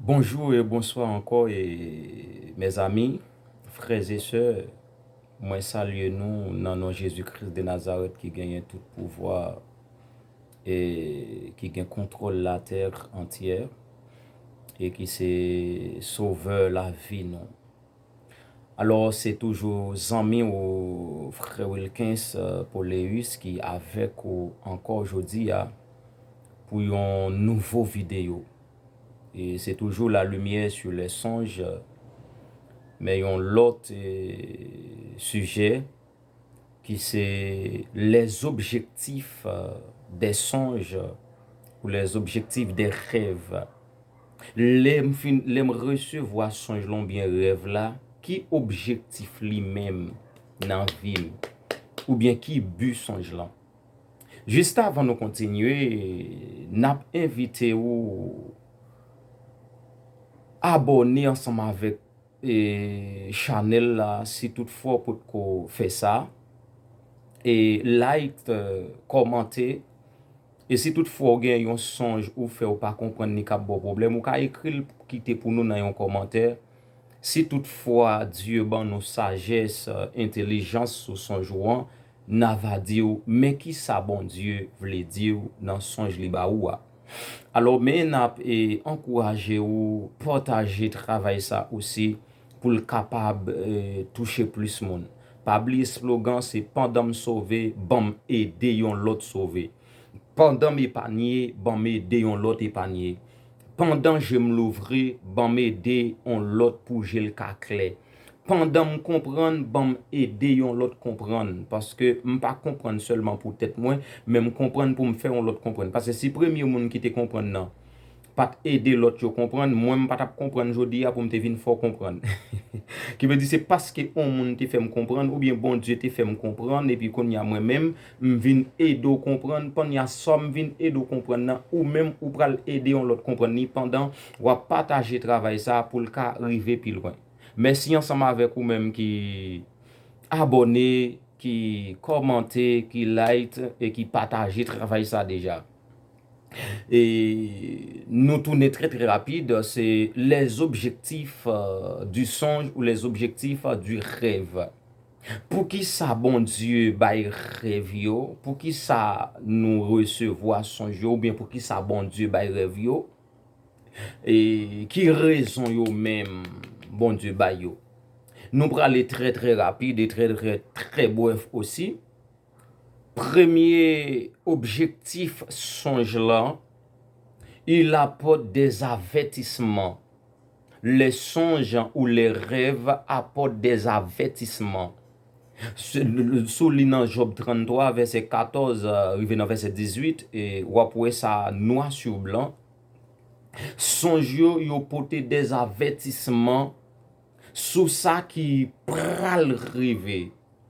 Bonjou e bonswa ankò e mèzami, frè e sè, mwen salye nou nan non Jezi Kris de Nazarèt ki genyen tout pouvwa e ki gen kontwòl latè antyè e ki se sovè lavi nou. Alor se toujou zanmi w Frè Wilkens Poléus ki avèk ou ankò jodi a pou yon nouvo videyo. E se toujou la limyè su lè sonj men yon lòt sijè. ki se les objectifs des songes ou les objectifs des rêves lè m fin lè m resevwa sonj la oubyen rèv la ki objektif li menm nan vi m oubyen ki bi sonj lan jiskavan nou kontinye n ap envite ou abòne ansanm avèk e chanel la si tout fwa ou pot ko fè sa e like kòmante e si tout fwa ou gen yon sonj ou fè ou pa konprann ni kap baw pwoblèm ou ka ekril kite pou nou nan yon kòmantè si tout fwa Dye ban nou sajès entelijans sou sonj ou an na va diw men kisa Bondye vle diw nan sonj li ba ou a. Alò men nap ankouraje ou pataje travay sa osi poul kapab touche plis moun. Pa bliye slogan se pandanm sove banm ede yon lòt sove. Pandanm epanye banm ede yon lòt epanye. Pandan jem louvri banm ede yon lòt pou jel ka klè. pandan m konprann banm ede yon lòt konprann paske m pa konprann sèlman pou tèt mwen men m konprann pou m fè yon lòt konprann paske si premye moun ki te konprann nan pat ede lòt yo konprann mwen m pa tap konprann jodi a pou m te vin fè w konprann ki vle di se paske yon moun te fè m konprann oubyen Bondye te fè m konprann epi kounye a mwen menm M vin ede w konprann Panya Sa m vin ede w konprann nan, ou menm ou pral ede yon lòt konprann li pandan w ap pataje travay sa pou l ka rive pi lwen. Mèsi ansanm avèk ou menm ki abòne, ki kòmante, ki like e ki pataje travay sa deja. E nou tounen trè trè rapid se les objectifs du songe ou les objectifs du rêve. Poukisa Bondye bay rèv yo? Poukisa nou resevwa sonj yo? Oubyen poukisa Bondye bay rèv yo? E ki rezon yo menm Bondye bay yo? Nou prale trè trè rapid e trè trè trè brèf osi. Premye objektif sonj lan, il apòt dè avètisman. Lè sonj ou lè rèv apòt dè avètisman sou li nan Jòb 33 vèsè 14 rive nan vèsè 18, w ap wè sa nwa sou blan. Sonj yo yo pote dè avètisman sou sa ki pral rive.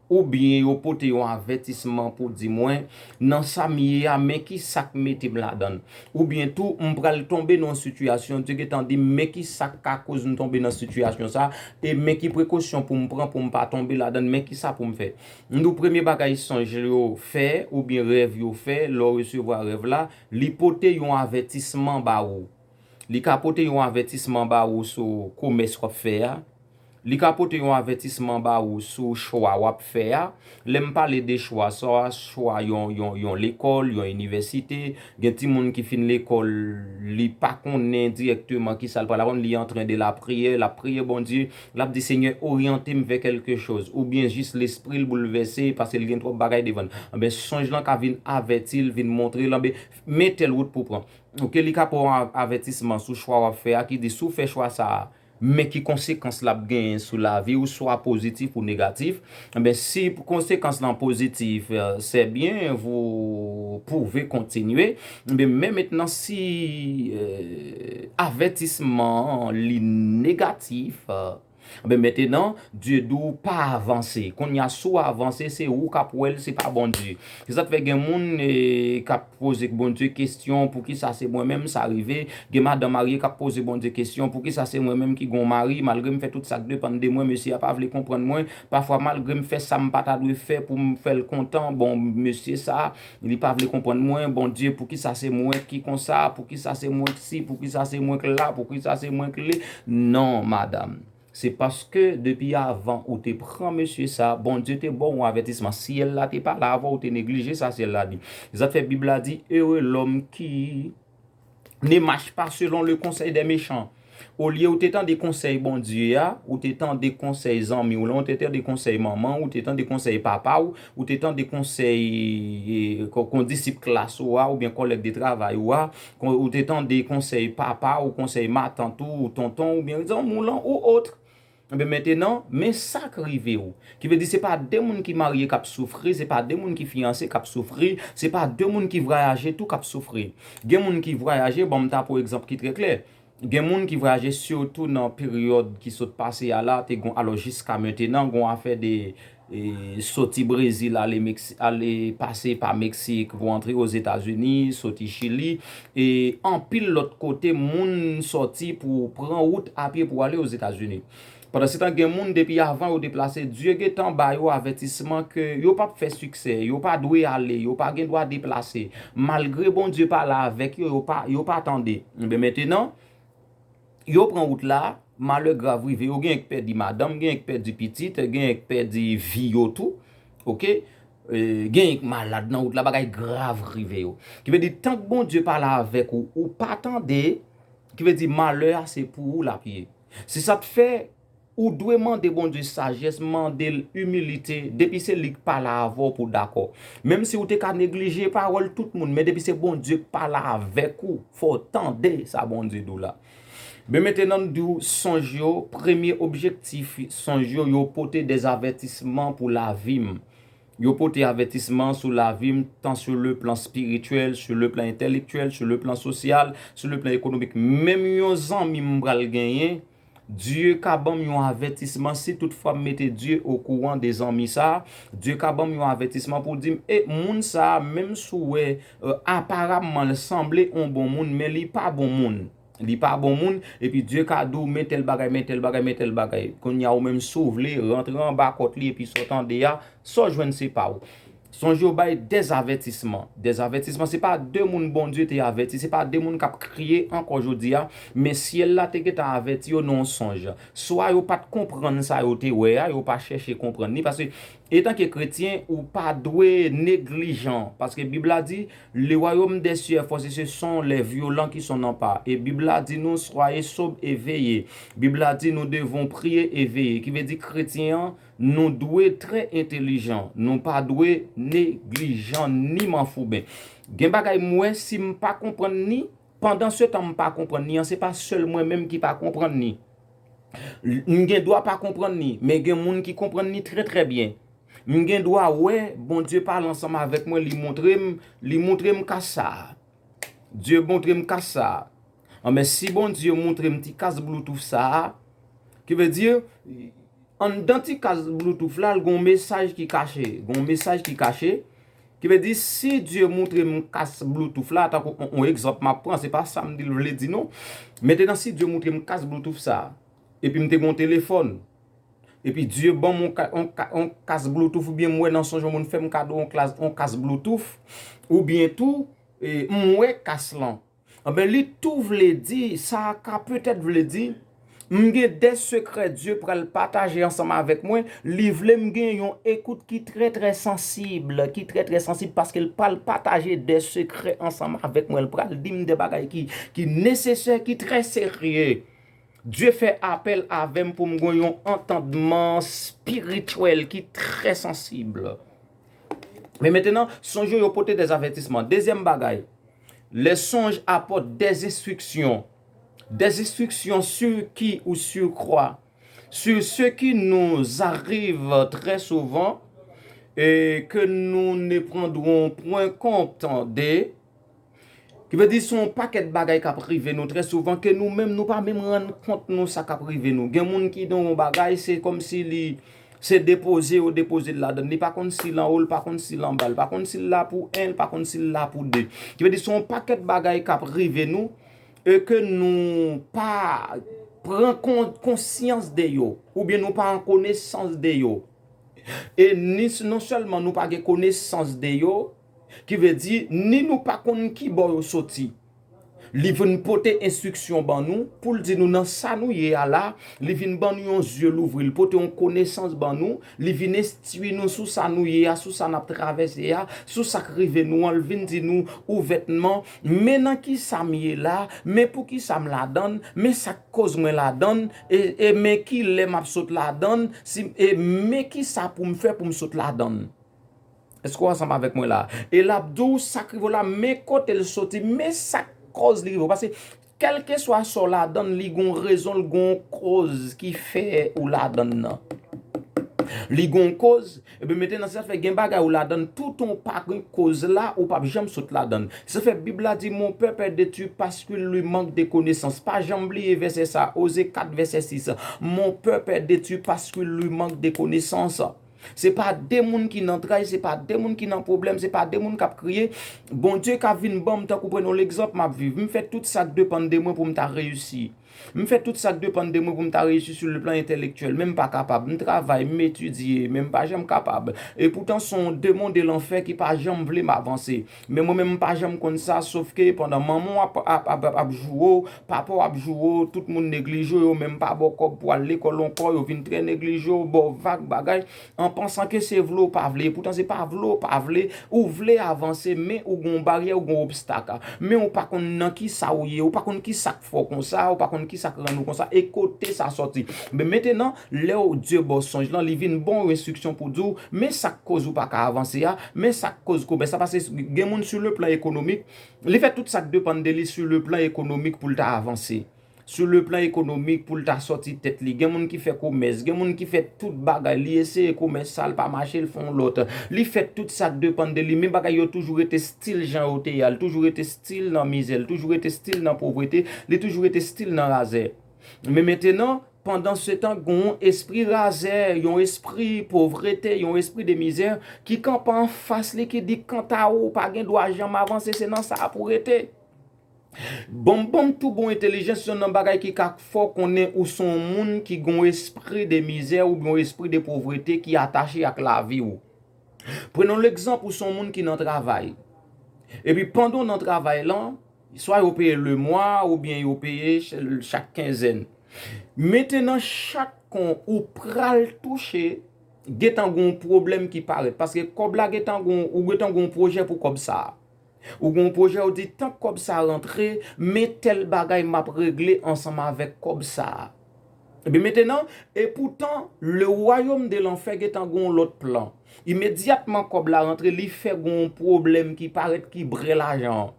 Oubyen yo pote yon avètisman pou di mwen, nan sa m ye a, men ki sa k mete m ladan l. Oubyen tou, m pral tonbe nan yon sitiyasyon, Dye gentan di m men ki sa k ka koz m tonbe nan sitiyasyon sa a, e men ki prekosyon pou m pran pou m pa tonbe ladan l, men ki sa pou m fè. M di w premye bagay sonj yo fè, oubyen rèv yo fè, lè w resevwa rèv la, li pote yon avètisman ba ou. Li ka pote yon avètisman ba ou sou komès w ap fè a. Li ka pote yon avètisman ba ou sou chwa w ap fè a. Lè m pale de chwa, sa a chwa yon lekòl, yon inivèsite. Gen timoun ki fin lekòl, li pa konnen dirèkteman ki sa l pral aprann, li antren de lapriyè, l ap priye Bondye, l ap di Senyè oryante m vè kèlke choz. Oubyen jis lespri l boulvèse pase l gen twòp bagay devan l. Anben sonj lan ka vin avèti l, vin montre l, anben men tèl wout pou w pran. Ok, li ka pou an avètisman sou chwa wap fè a ki di si w fè chwa sa a men ki konsekans lap genyen sou lavi w swa pozitif ou negatif enben si konsekans lan pozitif sè byen vou pouve kontinye enben men mentnan si avètisman an li negatif. Anben metenan Dye di w pa avanse kounya si w avanse se ou kap wè l se pa Bondye se sak fè gen moun kap poze Bondye kesyon poukisa se mwen menm sa rive gen madan marye kap poze Bondye kesyon poukisa se mwen menm ki gon mari malgre m fè tout sak depann de mwen mesye a pa vle konprann mwen pafwa malgre m fè sa m pa ta dwe fè pou m fè l kontan bon mesye sa Li pa vle konprann mwen Bondye poukisa se mwen ki konsa poukisa se mwen k si poukisa se mwen k la poukisa se mwen k le non madam se paske depi avan ou te pran mesye sa Bondye te baw yon avètisman si syèl la te pale avèw ou te neglije sa syèl la di sa k fè bib la di ere lòm ki Ne mach pa selon le konsèy dè mechan. Olye ou te tande konsèy Bondye a, ou te tande konsèy zanmi w lan, ou te tande konsèy manman w, ou te tande konsèy papa w, ou te tande konsèy kondisip klas ou a, oubyen kòlèg de travay ou a, ou te tande konsèy papa w, konsèy matant ou, tonton w, oubyen zanmi w lan, ou otre. Enben mentenan, men sa k rive ou. Ki vle di se pa de moun ki marye k ap soufri, se pa de moun ki fiyanse k ap soufri, se pa de moun ki vwayaje tou k ap soufri. Gen moun ki vwayaje, ban m ta pran yon egzanp ki trè klè, gen moun ki vwayaje sitou nan peryòd ki sot pase a la, te gon alò jiska mentenan, gon afè de Soti Brezil ale pase pa Meksik pou antre Ozetazini, soti Chili e anpil lòt kote moun soti pou pran wout apye pou ale Ozetazini. Pandansetan gen moun depi avan yo deplase Dye gentan ba yo avètisman ke yo pap fè siksè, yo pa dwe ale, yo pa gen dwa deplase. Malgre Bondye pale avèk yo, yo pa tande. Enben mentenan. Yo pran wout la, malè grav rive yo, genyen k pèdi madanm, genyen k pèdi pitit, genyen k pèdi vi yo tou, ok, genyen k malad nan wout la, bagay grav rive yo. Ki vle di tank Bondye pa la avèk ou, ou pa tande, ki vle di malè a se pou ou l ap ye. Se sa k fè. Ou dwe mande Bondye sajès, mande l imilite, depi se li k pale avè w pou w dakò. Menm si ou te ka neglije pawòl tout moun, men depi se Bondye k pale avèk ou, fò w tande sa Bondye di w la. Men mete nan di w sonj yo, premye objektif sonj yo, yo pote des avètisman pou lavi m. Yo pote avètisman sou lavi m, tan sou le plan spirityèl, sou le plan entèlektyèl, sou le plan sosyal, sou le plan ekonomik. Menm yon zanmi m pral genyen, Dieu ka banm yon avètisman si tout fwa m mete Dieu o kouran de zanmi sa, Dieu ka banm yon avètisman pou dim e moun sa menm si w wè aparamman l sanble on bon moun men li pa bon moun, li pa bon moun epi Dieu ka di w men tèl bagay men tèl bagay men tèl bagay kounya ou menm si w vle rantre anba kòt li epi sa w tande a sa w jwenn se pa w. Sonje yo bay des avètisman. Des avètisman se pa de moun Bondye te avèti, se pa de moun k ap kriye ankò jodi a, men syèl la te gentan avèti yo nan yon sonj. Swa yo pa t konprann sa yo te wè a, yo pa chèche konprann li, paske etanke kretyen, ou pa dwe neglijan, paske Bib la di, Le wayòm dè syè fò se se son lè vyolan ki son nan pa, e Bib la di nou, Soyez sobres et veillez. Bib la di nou devon priye e veye, ki vle di kretyen an, Nou dwe trè entelijan, nou pa dwe neglijan ni manfouben. Gen bagay m wè si m pa konprann ni, pandan se tan m pa konprann ni an, se pa sèl mwen menm ki pa konprann ni. M gen dwa pa konprann ni, men gen moun ki konprann ni trè trè byen. M gen dwa wè Bondye pale ansanm avèk mwen, li montre m, li montre m kas sa a. Dye montre m kas sa a. An men si Bondye moutrem ti kas bloutouf sa a, ki vle di anndan ti kas bloutouf la gon mesaj ki kache, gon mesaj ki kache, ki vle di si Dye moutrem kas bloutouf la, tankou on egzanp map pran, se pa sam dil vle di non, metenan si Dye moutrem kas bloutouf sa, epi m te gon telefòn, epi Dye banm on kas bloutouf oubyen m wè nan sonj on moun fèm kado on kas bloutouf, oubyen tou m wè kas lan, Anben li tou vle di, sa ka petèt vle di, M gen de sekrè Dye pral pataje ansanm avèk mwen, li vle m gen yon ekout ki trè trè sansib, ki trè trè sansib paske l pral pataje de sekrè ansanm avèk mwen, l pral di m de bagay ki nesesè, ki trè serye. Dye fè apèl avè m pou m gen yon antandman espirityèl ki trè sansib. Men mentenan, sonje yo pote de avètisman. Dezyèm bagay. Le sonj apòt dè enstriksyon, dè enstriksyon si ki ou si kwa, si se ki nou zariv trè souvan e ke nou ne prandwon pwen kont de, ki vle di se yon pakèt bagay k ap rive nou trè souvan ke nou menm nou pa menm rann kont nou sa k ap rive nou. Gen moun ki nan yon bagay se kòmsi li Se depoze yo depoze l ladan l. Li pa konn si l anwo, li pa konn si l anba. Li pa konn si l la pou 1, li pa konn si l la pou 2. Ki vle di se yon pakèt bagay k ap rive nou e ke nou pa pran konsyans de yo. Oubyen nou pa an konesans de yo. E non sèlman nou pa gen konesans de yo. Ki vle di, ni nou pa konn ki bò yo soti. Li vin pote enstriksyon ban nou, pou l di nou nan sa nou ye a la, li vin ban nou yon zye louvri, li pote yon konesans ban nou, li vin enstwi nou sou sa nou ye a, sou sa n ap travèse a, sou sa k rive nou an, li vin di nou ouvètman, men nan ki sa m ye la, men pou ki sa m ladan l, men sa k koz mwen ladan l, e men ki lè m ap sot ladan l, e men ki sa pou m fè pou m sot ladan l. Èske w ansanm avèk mwen la a? E l ap di w sa k rive w la, men kote l soti, men sa k kòz li rive w. Paske, kèlkeswa sa w ladan l, li gen yon rezon, li gen yon kòz ki fè ou ladan l lan. Li gen yon kòz, epi mentènan se sa k fè gen bagay ou ladan l, toutan w pa gen kòz la, ou pap janm sot ladan l. Se sa k fè Bib la di, Mon pèp è detwi paskil li mank de konesans. Pa janm bliye vèsè sa a, Oze 4 vèsè 6, Mon pèp è detwi paskil li mank de konesans. Se pa de moun ki nan tray, se pa de moun ki nan pwoblèm, se pa de moun k ap kriye, Bondye ka vin ban m tankou pran yon legzanp m ap viv. M fè tout sa k depann de mwen pou m ta reyisi. M fè tout sa k depann de mwen pou m ta reyisi sou leplan entèlektyèl, men m pa kapab. M travay, m etidye, men m pa janm kapab. Epoutan, s on demon de lanfè ki pa janm vle m avanse. Men mwen menm m pa janm konn sa sof ke pandan manman w ap joure w, papa w ap joure w, tout moun neglije w, yo menm pa ba w kòb pou w al lekòl ankò, yo vin trè neglije w, ba w vag bagay, an pansan ke se vle w pa vle. Epoutan se pa vle w pa vle, ou vle avanse men ou gen yon baryè, ou gen yon obstak. Men ou pa konn nan kisa w ye, ou pa konn kisa. Fè w konsa, ou pa konn ki sa k rann ou konsa e kote sa sòti. Men mentenan, lè w Dye ba w sonj lan, li vin ban w enstriksyon pou di w, men sa k koz ou pa ka avanse a, men sa k koz komès la, pase gen moun sou le plan ekonomik, li fè tout sa k depann de li sou le plan ekonomik pou l ta avanse, sou le plan ekonomik pou l ta sòti tèt li, gen moun ki fè komès, gen moun ki fè tout bagay, li eseye komès sa l pa mache l fè yon lòt, li fè tout sa k depann de li, men bagay yo toujou rete stil jan yo te ye a, li toujou rete. Stil nan mizè, li toujou rete stil nan povrete, li toujou rete stil nan razè. Men mentenan, pandan se tan gen yon espri razè, yon espri povrete, yon espri de mizè, ki kanpe an fas li, ki di kanta ou, ou pa gen dwa janm avanse, se nan sa a pou rete. Banm banm tou bon entelijans, yon nan bagay ki ka fè w konnen ou se yon moun ki gen yon espri de mizè oubyen yon espri de povrete ki atache ak lavi ou. Prenn legzanp ou son moun ki nan travay. Epi pandan w nan travay lan, swa yo peye le mwa ou byen yo peye chak kenzèn. Mete nan chak kon ou pral touche, gentan gon pwoblèm ki parèt. Paske kòb la gentan gon, ou gentan gon pwojè pou kòb sa a. Ou gen yon pwojè ou di tank kòb sa rantre men tèl bagay map regle ansanm avèk kòb sa. Ebyen mete nan epoutan le wayom de lanfè gentan gen yon lòt plan. Imedyatman kòb la rantre li fè gen yon pwoblèm ki parèt ki bre lajan an.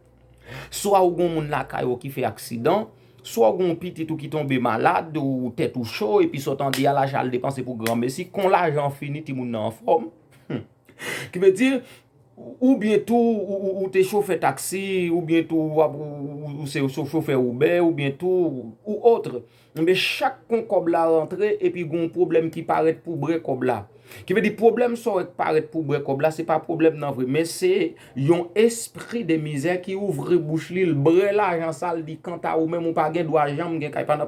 Swa ou gen yon moun lakay ou ki fè aksidan, swa ou gen yon pitit ou ki tonbe malad ou tèt ou cho epi sa ou tande a lajan al depanse pou granmesi kon lajan an fini timoun nan anfòm. Humm. Ki vle di, ou byen tou ou te chofè taksi, ou byen tou ou se chofè oubè, ou byen tou ou otre. Enben chak kon kòb la rantre epi gen yon pwoblèm ki parèt pou bre kòb la. Ki vle di pwoblèm sa yo ki parèt pou bre kòb la se pa pwoblèm nan vre. Men se yon espri de mizè ki ouvri bouch li, l bre lajan sa l di kanta ou menm ou pa gen dwa janm gen kay. Pran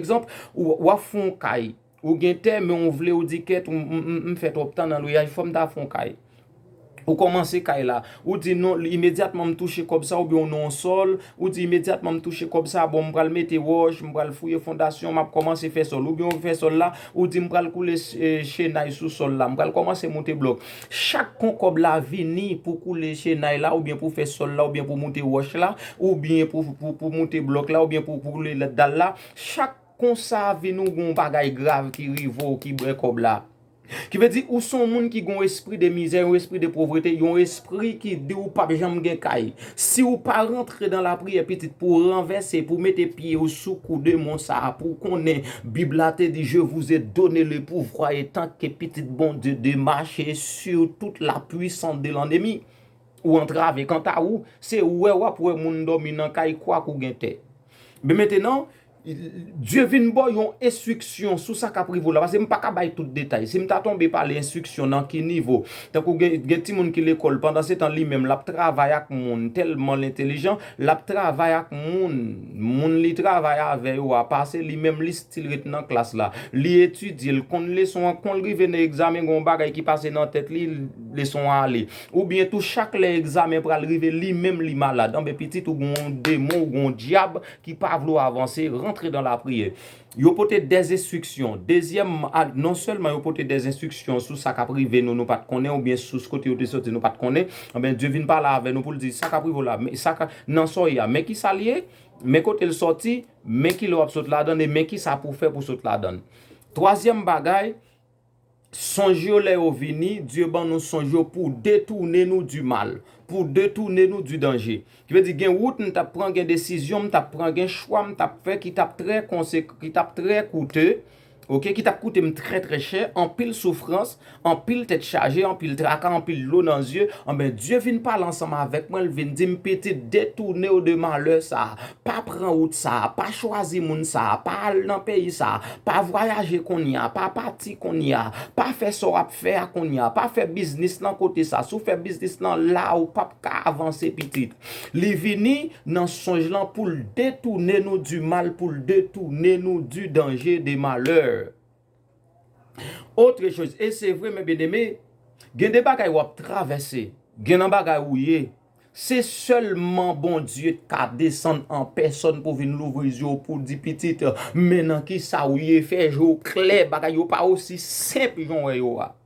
ekzanp, w ap fè yon kay. Ou gen tè men ou vle ou di kèt m fè twòp tan nan lweyaj fò m ta fè yon kay. Ou kòmanse kay la. Ou di non imedyatman m touche kòb sa oubyen ou nan yon sòl, ou di imedyatman m touche kòb sa bon m pral mete wòch, m pral fouye fondasyon, m ap kòmanse fè sòl. Oubyen ou fè sòl la, ou di m pral koule chenay sou sòl la, m pral kòmanse moute blòk. Chak kon kòb la vini pou koule chenay la oubyen pou fè sòl la oubyen pou moute wòch la oubyen pou moute blòk la oubyen pou koule dal la chak Konsa vin ou gon bagay grav ki rive w ki bre kòb la. Ki vle di ou son moun ki gon espri de mizè, yon espri de povrete, yon espri ki di ou pap janm gen kay. Si ou pa rantre dan lapriyè pitit pou w ranvèse, pou w mete pye w sou kou demon sa a pou w konnen bib la te di je vous ai donne le pouvoir etant que pitit Bondye de mache sur toute la puissance de l'ennemi. Ou antrave kanta ou, se wè wap wè moun dòmi nan kay kwak ou gen tè. Byen mentenan, Bdye vin baw yon enstriksyon sou sa kap rive w la pase m paka bay tout detay si m ta tonbe pale enstriksyon nan ki nivo tankou gen timoun ki lekòl pandan se tan li menm lap travay ak moun tèlman l entelijan lap travay ak moun moun li travay avè yo a pase li menm li stil ret nan klas la li etidye l konn leson an kon l rive nan egzamen gen yon bagay ki pase nan tèt li leson an ale oubyen tou chak lè egzamen pral rive li menm li malad anben pitit ou gen yon demon ou gen yon dyab ki pa vle w avanse, rantre dan lapriyè. Yo pote dè enstriksyon. Dezyèm, non sèlman yo pote dè enstriksyon sou sa k ap rive nou, nou pa t konnen, oubyen sous kote yo te soti nou pa t konnen, anben Dye vin pale avè nou pou l di, sa k ap rive w la, sa k nan sa w ye a, men ki sa l ye, men kote l soti, men ki lè w ap sot ladann e men ki sa pou w fè pou w sot ladann. Twazyèm bagay. Sonj yo lè yo vini, Dye ban nou sonj yo pou detounen nou di mal, pou detounen nou di danje. Ki vle di gen wout m t ap pran, gen desizyon m t ap pran, gen chwa m t ap fè ki t ap trè konsek, ki t ap trè koute, ok, ki t ap koute m trè trè chè, anpil soufrans, anpil tèt chaje, anpil traka, anpil dlo nan zye, anben Dye vin pale ansanm avèk mwen, l vin di m pitit detounen w de malè sa a. Pa pran wout sa a, pa chwazi moun sa a, pa al nan peyi sa a, pa vwayaje kounye a, pa pati kounye a, pa fè sa w ap fè a kounye a, pa fè biznis nan kote sa a. Si w fè biznis nan la a, ou p ap ka avanse pitit. Li vini nan sonj lan pou l detoune nou du mal, pou l detoune nou du danger, de malheur. Autre chose, et c'est vrai mes bien aimés, gen de bagay wap travèse, gen nan bagay ou ye, se sèlman Bondye t ka desann an pèsòn pou vin louvri zye w pou di pitit, men nan kisa ou ye, fè je w klè, bagay yo pa osi senp jan w wè yo a.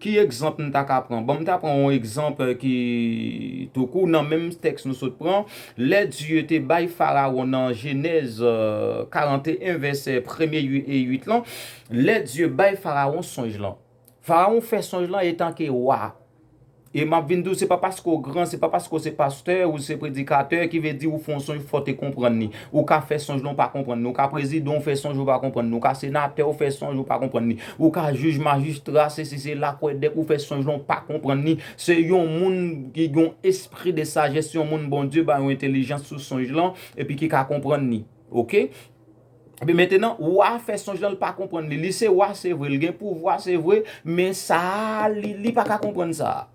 Ki egzanp n ta ka pran? Bon, m ta pran yon egzanp ki tou kou nan menm tèks nou sot pran. Lè Dye te bay Farawon nan Jenèz 41 vèsè premye e uit lan, lè Dye bay Farawon sonj lan. Farawon fè sonj lan etanke wa. E m ap vin di w se pa paske w gran, se pa paske w se pastè, ou se predikatè ki vle di ou fè yon sonj fò w te konprann li. Ou ka fè sonj lan ou pa konprann li. Ou ka prezidan ou fè sonj ou pa konprann li. Ou ka senatè ou fè sonj ou pa konprann li. Ou ka jij, majistra, sesi sela, kwè dèk ou fè sonj lan ou pa konprann li, se yon moun ki gen yon espri de sajès, yon moun Bondye bay yon entelijans sou sonj lan epi ki ka konprann li. Ok. Epi mentenan, wa a fè sonj lan li pa konprann li. Li se wa se vre, li gen pouvwa se vre, men sa a li li pa ka konprann sa a.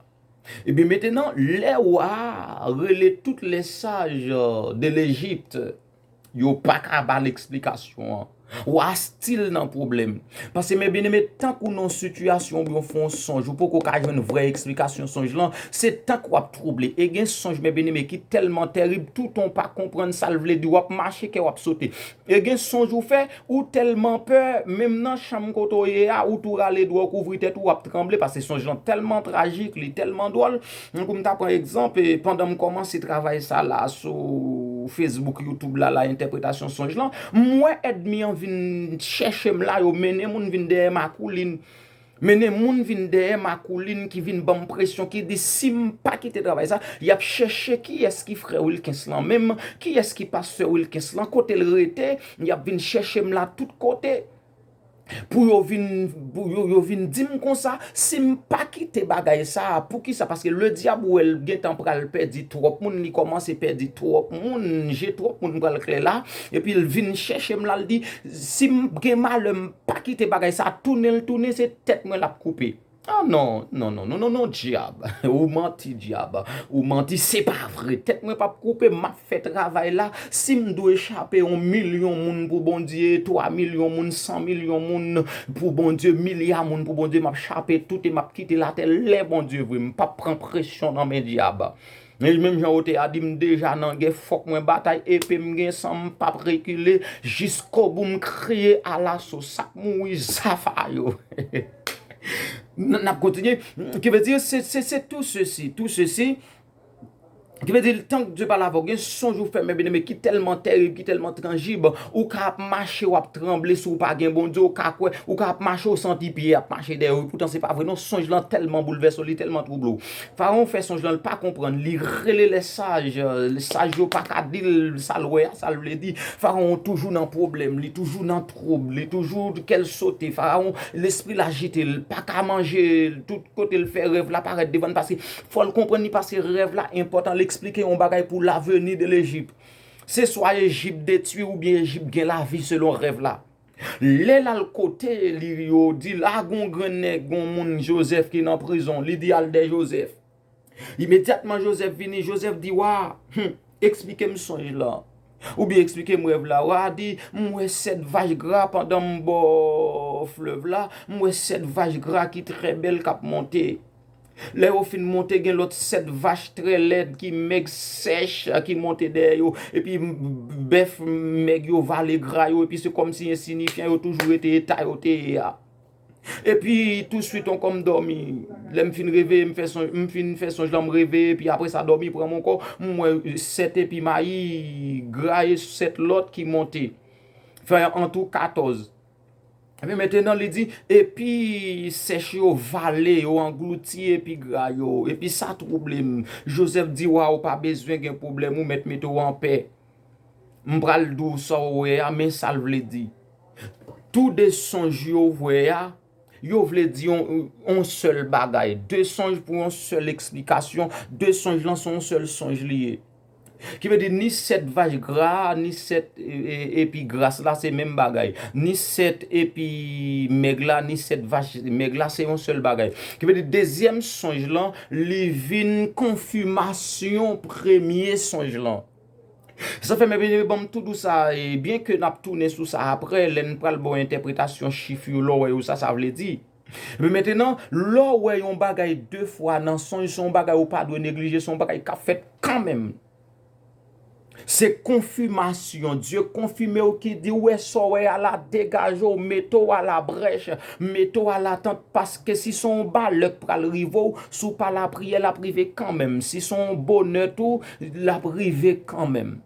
Epi mentenan, lè wa a rele tout lè saj de Lejipte, Yo pa ka ba l eksplikasyon an. Wa a stil nan pwoblèm. Pase men byeneme, tank ou nan yon sitiyasyon oubyen w fè yon sonj, ou poko ka jwenn vrè eksplikasyon sonj lan, se tank w ap twouble. E gen sonj men byeneme ki tèlman tèrib, toutan w pa konprann sa l vle di, w ap mache kè w ap sote. E gen sonj ou fè, ou tèlman pè, menm nan chanm kote w ye a, ou tou rale dwè w kouvri tèt ou, w ap tranble pase sonj lan tèlman trajik, li tèlman dwòl. Mwen pou m ta pran egzanp, pandan m kòmanse travay sa la sou Facebook, YouTube la la, entèpretasyon sonj lan, m wè èdmi an vin chèche m la, yo mennen moun vin dèyè m akoulin. Mennen moun vin dèyè m akoulin ki vin ban m presyon, ki di si m pa kite travay sa, y ap chèche kiyès ki frè Wilkens lan menm, kiyès ki pastè Wilkens lan, kote l rete, y ap vin chèche m la tout kote. Pou yo vin pou yo yo vin dim konsa sim pa kite bagay sa poukisa paske le diab wèl gentan pral pèdi twòp moun li kòmanse pèdi twòp moun je twòp moun pral klè la epil vin chèchem lal di sim gen malè m pa kite bagay sa tounenl tounen se tèt mwen lap koupe. Ah non non non non non non djab ou manti djab ou manti se pa vre tèt mwen pap koupe map fè travay la sim dwe chape on milyon moun pou Bondye 3 milyon moun 100 milyon moun pou Bondye milya moun pou Bondye map chape tout e map kite latè lè Bondye vle mpap pran presyon nan men djab. Mezanmi menm jan yo te a di m deja nan gè fòk mwen batay epe m gen san m pap rekile jiskobou m kriye alaso sak mouri zafa yo n ap kontinye ki vle di se tou sesi tou sesi ki vle di tan k Dye pale avè w gen sonj ou fè mè byeneme ki tèlman terib ki tèlman trangib ou ka ap mache w ap tranble si w pa gen Bondye ou ka kwè ou ka ap mache w santi pye ap mache dèyè w epoutan se pa vre non sonj lan tèlman boulvèse w li tèlman twouble w. Farawon fè sonj lan, l pa konprann, li rele lè saj, lè saj yo pa ka di l sa l wè a, sa l vle di. Farawon toujou nan pwoblèm, li toujou nan twoub, li toujou kè l sote. Farawon, lespri l ajite, l pa ka manje, tout kote l fè rèv la parèt devan l paske fò l konprann li pase rèv la enpòtan, l esplike yon bagay pou laveni de Lejip. Se swa Ejip detwi oubyen Ejip gen lavi selon rèv la. Lè l al kote li, yo di l, 'A, gen yon grannèg, gen yon moun Jozèf ki nan prizon. Li di, 'Al dèy Jozèf. Imedyatman, Jozèf vini. Jozèf di wa a, 'Eksplike m sonj lan, oubyen eksplike m rèv la. Wa a di, 'M wè sèt vach gra pandan m bò flèv la. M wè sèt vach gra ki trè bèl k ap monte. Lè yo fin monte gen lòt sèt vach trè lèd ki mèg sèch ki monte dèyè yo, epi bèf mèg yo vale gra yo, epi se kòmsi ensiyifyan yo toujou rete eta yo te ye a. Epi touswit ankò m dòmi, lè m fin reveye m fè sonj, m fin fè sonj lan m reveye epi apre sa dòmi pran m ankò, m wè sèt epi mayi gra e sèt lòt ki monte fè antou katòz. Epi mentenan li di, epi sèch yo vale, yo anglouti epi gra yo, epi sa twouble m. Jozèf di wa a, ou pa bezwen gen pwoblèm, ou mèt mete w anpè. M pral di w sa w wè a, men sa l vle di. Tou de sonj yo w wè a, yo vle di yon sèl bagay. De sonj pou yon sèl eksplikasyon, de sonj lan se yon sèl sonj li ye. Ki vle di ni 7 vach gra a, ni 7 epi gras la se menm bagay. Ni 7 epi mèg la, ni 7 vach mèg la se yon sèl bagay. Ki vle di dezyèm sonj lan li vin konfimasyon premye sonj lan. Sa fè mè byen eme ban m tou dou sa e byen ke n ap tounen sou sa aprè lè n pral ba w entèpretasyon chif yo lè w wè yo sa sa vle di. Epi mentenan, lè w wè yon bagay de fwa nan sonj, se yon bagay ou pa dwe neglije, se yon bagay k ap fèt kanmenm. Se konfimasyon, Dye konfime w ki di w wè sa w wè a la, degaje w, mete w alabrèch, mete w alatant, paske si se yon balè k pral rive w, si w pa lapriyè l ap rive kanmenm, si se yon bonè tou, l ap rive kanmenm.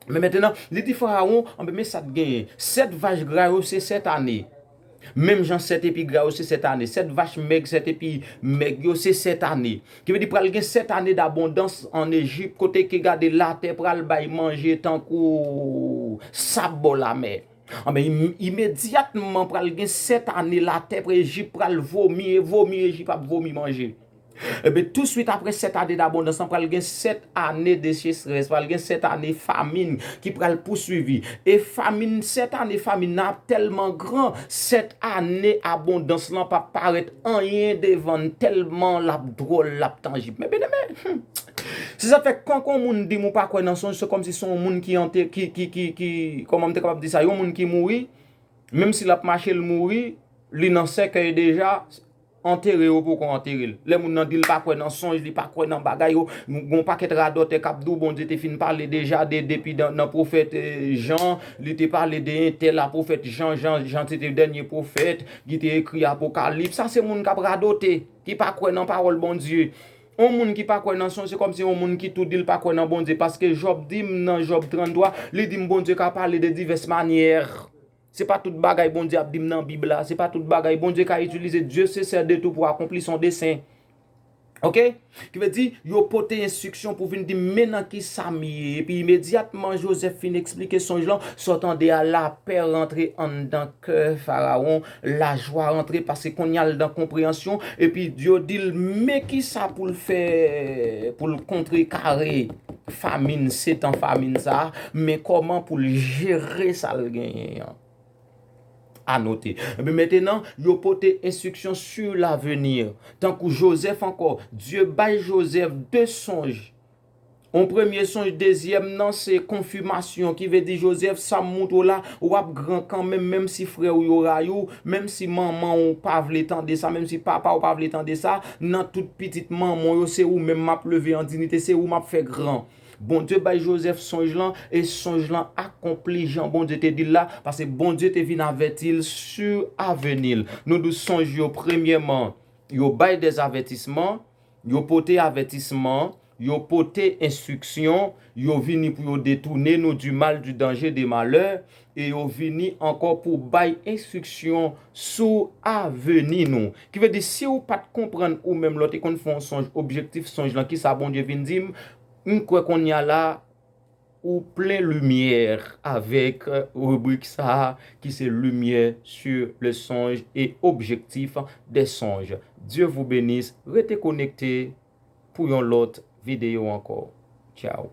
Men mentenan, li di Farawon, anben men sa t genyen, sèt vach gra yo se sèt ane, menm jan sèt epi gra yo se sèt ane, sèt vach mèg, sèt epi mèg yo se sèt ane. Ki vle di pral gen sèt ane dabondans an Ejip kote ke gade latè pral bay manje tankou sab bò lamè. Anben imedyatman pral gen sèt ane latè Ejip pral vomi e vomi Ejip ap vomi manje. Enben, tousuit apre sèt ane dabondans lan, pral gen sèt ane decheserès, pral gen sèt ane famin ki pral pousuivi. E famin, sèt ane famin nan ap tèlman gran, sèt ane abondans lan pap parèt anyen devan n, tèlman l ap dwòl, l ap tanjib. Men byeneme, se sa k fè, kan on moun di m ou pa kwè nan sonj, se kòmsi se yon moun ki ante, ki, ki, ki, ki, kòman m te kapab di sa, yon moun ki mouri, menmsi l ap mache l mouri, li nan sèkèy deja, Antere yo poko antere l. Lè moun nan di l pa kwè nan sonj, li pa kwè nan bagay yo, gen yon pakèt radòtè k ap di w Bondye te fin pale deja de depi nan pwofèt Jan, li te pale de entèl a pwofèt Jan, Jan se te dènye pwofèt ki te ekri Apokalips. Sa se moun k ap radote, ki pa kwè nan pawòl Bondye. Yon moun ki pa kwè nan sonj se kòmsi yon moun ki tou di l pa kwè nan Bondye paske Jòb di m nan Jòb 33, li di m Bondye ka pale de divès manyè. Se pa tout bagay Bondye ap dim nan bib la, se pa tout bagay Bondye ka itilize Dieu se sè de tou pou akonpli son desen. Ok? Ki vle di, yo pote enstriksyon pou vin dim men nan ki sa m ye. Epi imedyatman Joseph fin eksplike sonj lan, sa w tande a lapè rantre anndan kè Farawon, lajwa rantre pase konnya l nan konpreyansyon, epi yo di l men ki sa pou l fè pou l kontrekare famin, setan famin sa a. Men kòman pou l jere sa l genyen an. A note, Epi mentenan, yo pote enstriksyon su laveni. Tankou Jozèf ankò, Dye bay Jozèf de sonj. On premye sonj, dezyèm nan se konfimasyon, ki vle di, Jozèf, sa m montre w la, w ap gran kanmenm, menm si frè w yo rayi w, menm si manman w pa vle tande sa, menm si papa w pa vle tande sa, nan tout pitit manman w yo, se ou menm m ap leve an dinite, se ou m ap fè gran. Bondye bay Jozèf sonj lan, e sonj lan akonpli jan Bondye te di l la, pase Bondye te vin avèti l sou aveni l. Nou dous sonj yo premyèman, yo bay dè avètisman, yo pote avètisman, yo pote enstriksyon, yo vini pou yo detounen nou di mal, di danje, de malè, E yo vini ankò pou bay enstriksyon sou aveni nou. Ki vle di, si ou pa t konprann ou menm lè w te konn fè yon sonj, objektif sonj lan, ki sa Bondye vin di m, m kwè kounye a la a, ou plen limyè avèk ribrik sa a ki se Lumière sur le songe et objectif des songes. Dieu vous benisse, rete konekte pou yon lòt videyo ankò. Tchao!